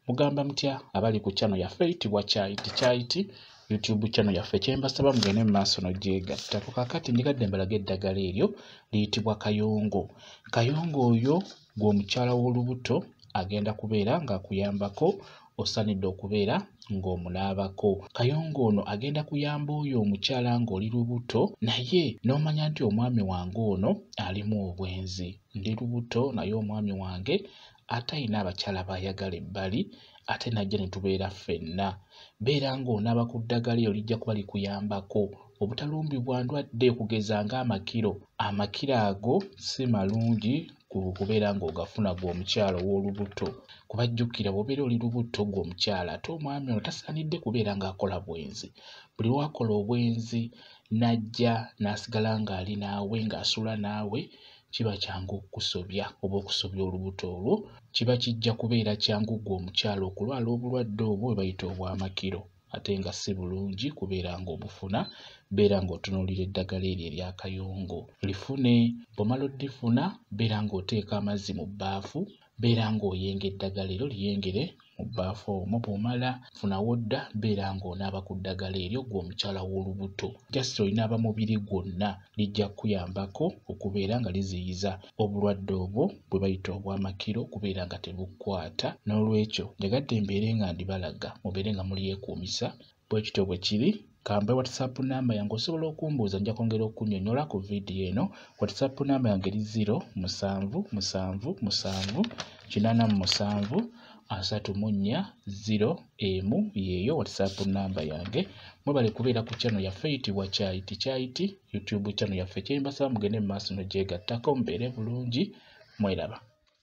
mugamba mutya abali ku channel yaffe eyitibwa kyayiti kyayiti youtube channel yaffe kyembasaba mugende mu maaso nogyegatta ku kakati njigadde mbalaga eddagala eryo liyitibwa kayongo kayongo oyo gweomukyala w'olubuto agenda kubeera ng'akuyambako osanidde okubeera ng'omunaabako kayongo ono agenda kuyamba oyo omukyala ng'oli lubuto naye n'omanya nti omwami wange ono alimu obwenzi ndi lubuto naye omwami wange ate ayina abakyala bayagala ebbali ate najja ne tubeera ffenna beera ng'onaaba ku ddagala eyo lijja kuba likuyambako obutalumbibwa ndwadde okugeza ng'amakiro amakiro ago si malungi kubeera ng'ogafuna gwe omukyala ow'olubuto kuba jjukira bw'obeera oli lubuto gwe omukyala ate omwami ono tasaanidde kubeera ng'akola bwenzi buli lwakola obwenzi n'ajja n'asigala ng'ali naawe ng'asula naawe kiba kyangu okukusobya oba okusobya olubuto olwo kiba kijja kubeera kyangu gwe omukyala okulwala obulwadde obwo bwe bayita obwamakiro ate nga si bulungi kubeera ng'obufuna beera ng'otunuulira eddagala eryo eryakayongo lifune bw'omala oddifuna beera ng'oteeka amazzi mu bbaafu beera ng'oyenga eddagala eryo lyengere mu bbaafu omu bw'omala funa wodda beera ng'onaaba ku ddagala eryo gwe omukyala w'olubuto just olinaaba mubiri gwonna lijja kukuyambako okubeera nga liziyiza obulwadde obwo bwe bayita obw'amakiro okubeera nga tebukwata n'olwekyo njagadde mbeere nga ndibalaga mubeere nga mulyekuumisa bwe kityo bwe kiri kambe whatsapp namba yange osobola okumbuuza nja kwongera okunyonyola ku vidiyo eno whatsapp namba yange eri 0 musanvu musanvu musanvu kinana mu musanvu asatu mu nnya 0 emu yeeyo whatsapp namba yange mwebale kubeera ku channel yaffe eyitibwa kyayiti kyayiti youtube channel yaffe kyembasaba mugende mu maaso nogyegattako mubeere bulungi mweraba